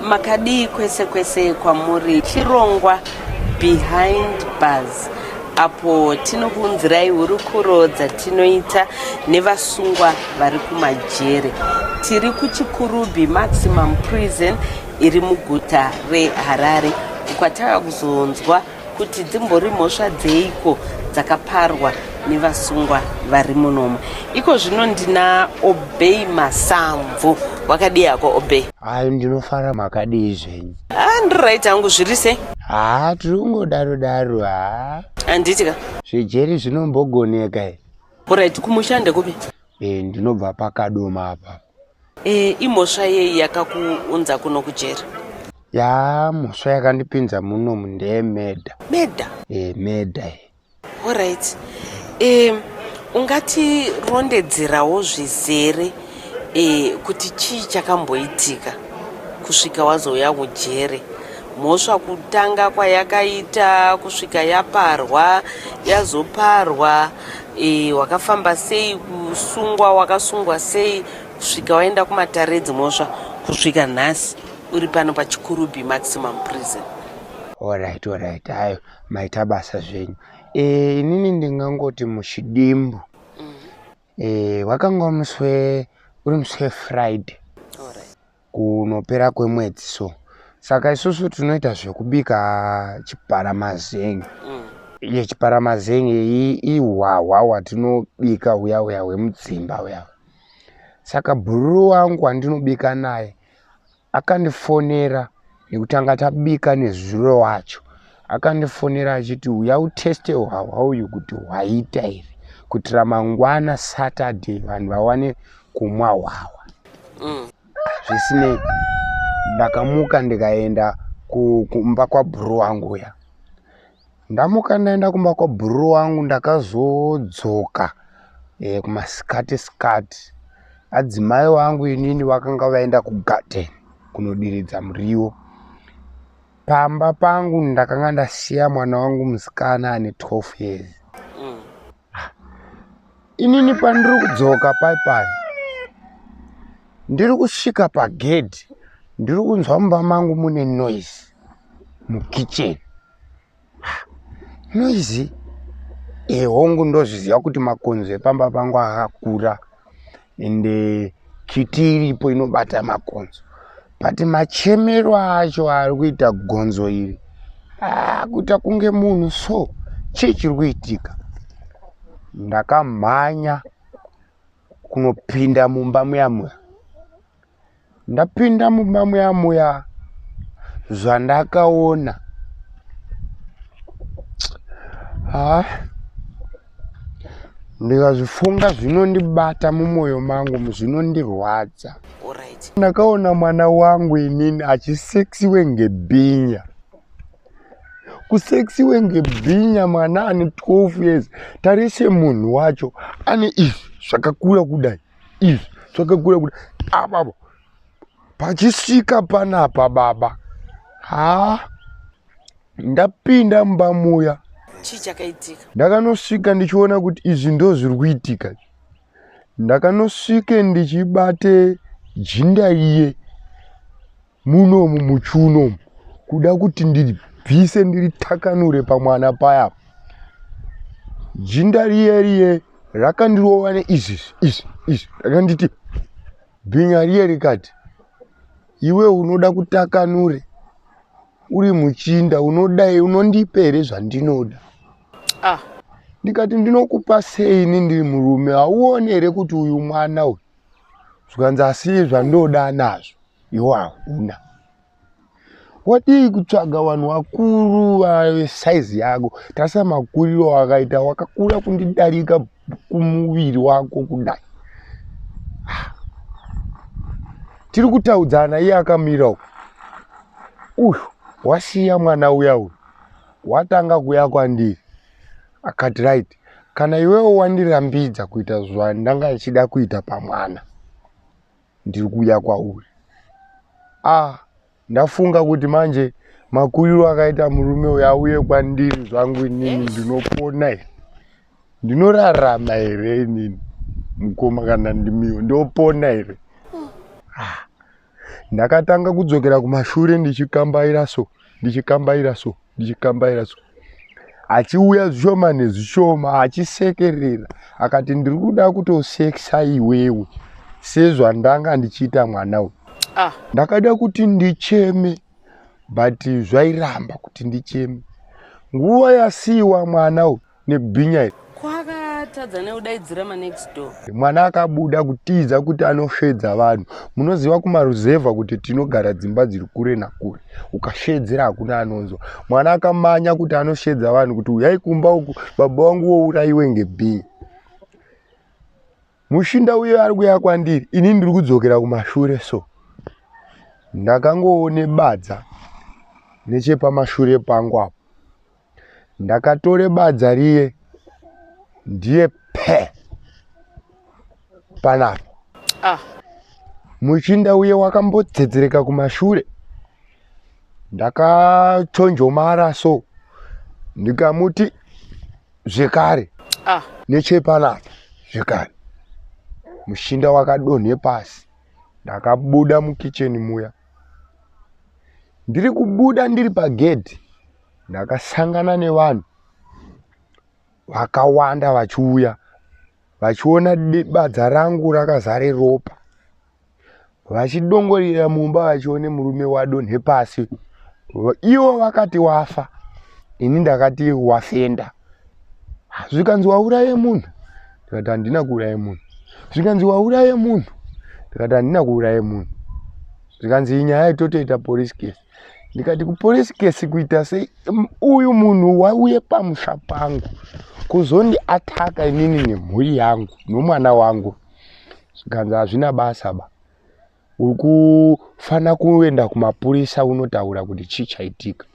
makadii kwese kwese kwamuri chirongwa behind bars apo tinokuunzirai hurukuro dzatinoita nevasungwa vari kumajere tiri kuchikurubi maximum prison iri muguta reharare uko ataka kuzonzwa kuti dzimbori mhosva dzeiko dzakaparwa nevasungwa vari munomo iko zvino ndina obey masamvu wakadii hako obey hayi ndinofara makadii zvenyu haa ndiri right hangu zviri sei haa tiri kungodaro daro haa handiti ka zvejeri zvinombogoneka i orit kumushande kupi e ndinobva pakadoma apa E, imhosva yei yakakuunza kuno kujeri? Yaa mhosva yakandipinza muno mundeye meda. Meda? E, meda e. Alright. E, ungati rondedzerawo zvizere e, kuti chii chakamboitika kusvika wazouya kujere mhosva kutanga kwayakaita kusvika yaparwa yazoparwa e, wakafamba sei kusungwa wakasungwa sei kusvika waenda kumatare edzimhosva kusvika nhasi uri pano pachikurubi maximum prison orit orit hayo maita basa zvenyu e, inini ndingangoti muchidimbu mm. e, wakanga muswe uri muswe friday kunopera kwemwedzi so saka isusu tinoita zvekubika chiparamazengi mm. iye chiparamazengi ihwahwa hwatinobika huya huya hwemudzimba huya saka bhururu wangu wandinobika naye akandifonera nekutanga tabika nezuro wacho akandifonera achiti uya uteste hwahwa uyu kuti hwaita here kutira mangwana saturday vanhu vawane kumwa hwahwa mm. zvisinei ndakamuka ndikaenda kumba kwabhuru wangu uya Ndamuka ndaenda kumba kwabhururu wangu ndakazodzoka e, kumasikati sikati adzimai wangu inini vakanga vaenda kugarden kunodiridza muriwo pamba pangu ndakanga ndasiya mwana wangu musikana ane 12 years inini pandiri kudzoka pai pai ndiri kusvika pagedhi ndiri kunzwa mumba mangu mune noise mukitchen noise ehongu ndozviziva kuti makonzo epamba pangu akakura ende kiti iripo inobata makonzo but machemero acho ari kuita gonzo iri ah, kuita kunge munhu so chii chiri kuitika ndakamhanya kunopinda mumba muyamuya ndapinda mumba muya muya zvandakaona ha ndikazvifunga zvinondibata mumwoyo mangu zvinondirwadza ndakaona mwana wangu inini achiseksiwe ngebhinya kuseksiwe ngebhinya mwana ane 12 years tarise munhu wacho ane izvi zvakakura kudai izvi zvakakura kuti apapa pachisvika panapa baba haa ndapinda mumba muya chii chakaitika ndakanosvika ndichiona kuti izvi ndo zviri kuitika ndakanosvike ndichibate jinda iye munomu muchiuno umu kuda kuti ndibvise ndiritakanure pamwana paya jinda riye riye rakandirova neizvi izvi izvi rakanditi bhinya riye rikati iwe unoda kutakanure uri muchinda unodai unondipe here zvandinoda ah. ndikati ndinokupa sei ini ndiri murume hauone here kuti uyu mwana uyu zvikanzi asii zvandoda nazvo iwo hauna wadii kutsvaga vanhu vakuru vave saizi yako tarisa makuriro wakaita wakakura kundidarika kumuviri wako kudai ah. tiri kutaudzana iye akamira uku uyu wasiya mwana uya uyu watanga kuya kwandiri akati right kana iwewo wandirambidza kuita zvandanga ichida kuita pamwana ndiri kuuya kwauri ah ndafunga kuti manje makuriro akaita murume uyo auye kwandiri zvangu inini ndinopona here ndinorarama here inini mukoma kana ndimiwo ndopona here ah ndakatanga kudzokera kumashure ndichikambaira so ndichikambaira so ndichikambaira so achiuya zvishoma nezvishoma achisekerera akati ndiri kuda kutosekisa iwewe sezvandanga ndichiita mwana uyu ah. ndakada kuti ndicheme but zvairamba kuti ndicheme nguva yasiiwa mwana uyu nebhinya iri kwakatadza neudaidzira manext door mwana akabuda kutiza kuti anosvedza vanhu munoziva kumaruzevha kuti tinogara dzimba dziri kure nakure ukashedzera hakuna anonzwa mwana akamanya kuti anoshedza vanhu kuti uyai kumba uku baba wangu wourayiwe ngebhinya mushinda uyo ari kuya kwandiri ini ndiri kudzokera kumashure so ndakangoone badza nechepamashure pangu apo ndakatore badza riye ndiye pe panapa ah. muchinda uye wakambodzedzereka kumashure ndakachonjomara so ndikamuti zvekare ah. nechepanapa zvekare mushinda wakadonhe pasi ndakabuda mukicheni muya ndiri kubuda ndiri pagedhi ndakasangana nevanhu vakawanda vachiuya vachiona badza rangu rakazare ropa vachidongorera mumba vachione murume wadonhe pasi ivo vakati wafa ini ndakati wafenda zvikanzi wauraye munhu ndikati handina kuuraye munhu zvikanzi wauraye munhu ndikati handina kuuraye munhu zvikanzi inyaya itotoita police case ndikati kupolice case kuita sei uyu munhu wauye pamusha pangu kuzondi ataka inini nemhuri yangu nomwana wangu zvikanzi hazvina basa ba uri kufanira kuenda kumapurisa unotaura kuti chii chaitika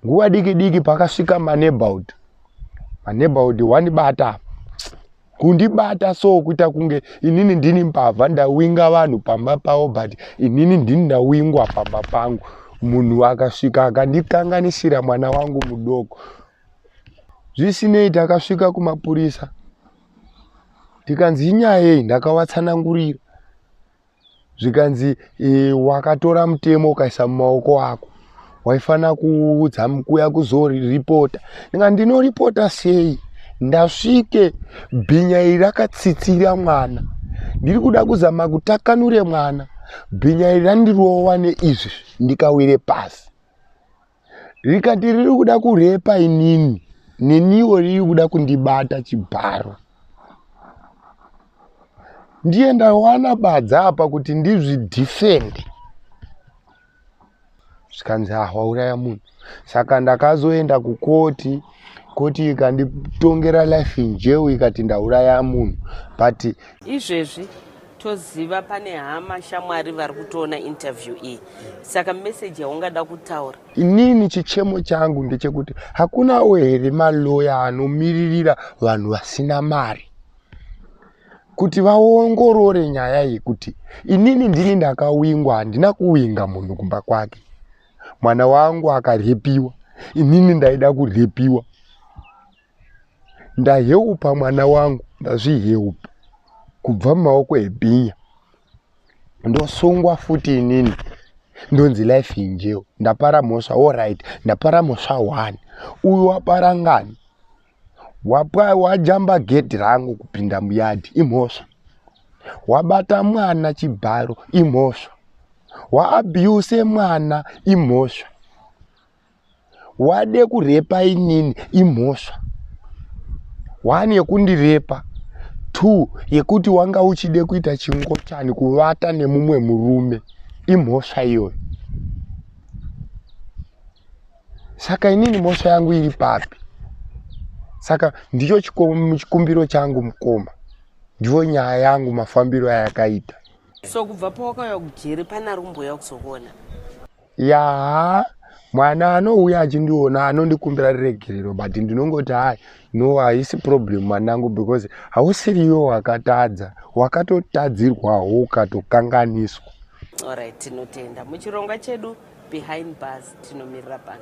nguva diki diki pakasvika maneighborhood maneighborhood wandibata kundibata so kuita kunge inini ndini mbavha ndawinga vanhu pamba pavo but inini ndini ndawingwa pamba pangu munhu akasvika akandikanganisira mwana wangu mudoko zvisinei takasvika kumapurisa tikanzi inyaya yei ndakawatsanangurira zvikanzi e, wakatora mutemo ukaisa mumaoko ako waifanira kuudza kuya kuzoripota ndika ndinoripota sei ndasvike bhinya iri rakatsitsira mwana ndiri kuda kuzama kutakanure mwana bhinya iri randirova neizvi ndikawire pasi rikati riri kuda kurepa inini neniwo riri kuda kundibata chibharo ndiye ndawana badza apa kuti ndizvidhifende zvikanzi ahwauraya munhu saka ndakazoenda kukoti koti ikanditongera life in jail ikati ndauraya munhu but izvezvi toziva pane hama shamwari vari kutoona interview iyi saka meseji yaungada kutaura inini chichemo changu ndechekuti hakunawo here maloya anomiririra vanhu vasina mari kuti vaongorore nyaya yekuti inini ndini ndakawingwa handina kuwinga munhu kumba kwake mwana wangu akarepiwa inini ndaida kurepiwa ndaheupa mwana wangu ndazviheupa kubva mumaoko ebhinya ndosungwa futi inini ndonzi life injeo ndapara mhosva orit ndapara mhosva one uyu wapara ngani wapwa wajamba gedhi rangu kupinda muyadhi imhosva wabata mwana chibharo imhosva waabuse mwana imhosva wade kurepa inini imhosva one yekundirepa two yekuti wanga uchide kuita chingochani kuvata nemumwe murume imhosva iyoyo saka inini mhosva yangu iri papi saka ndicho chikumbiro changu mukoma ndiyo nyaya yangu mafambiro ayakaita so kubva pawakauya kujeri pana rumbouya kuzokuona yaa mwana anouya achindiona anondikumbira riregerero but ndinongoti hai no haisi problem mwanangu because hausiriyo wakatadza wakatotadzirwawo ukatokanganiswa orit tinotenda muchirongwa chedu behind bars tinomirira pano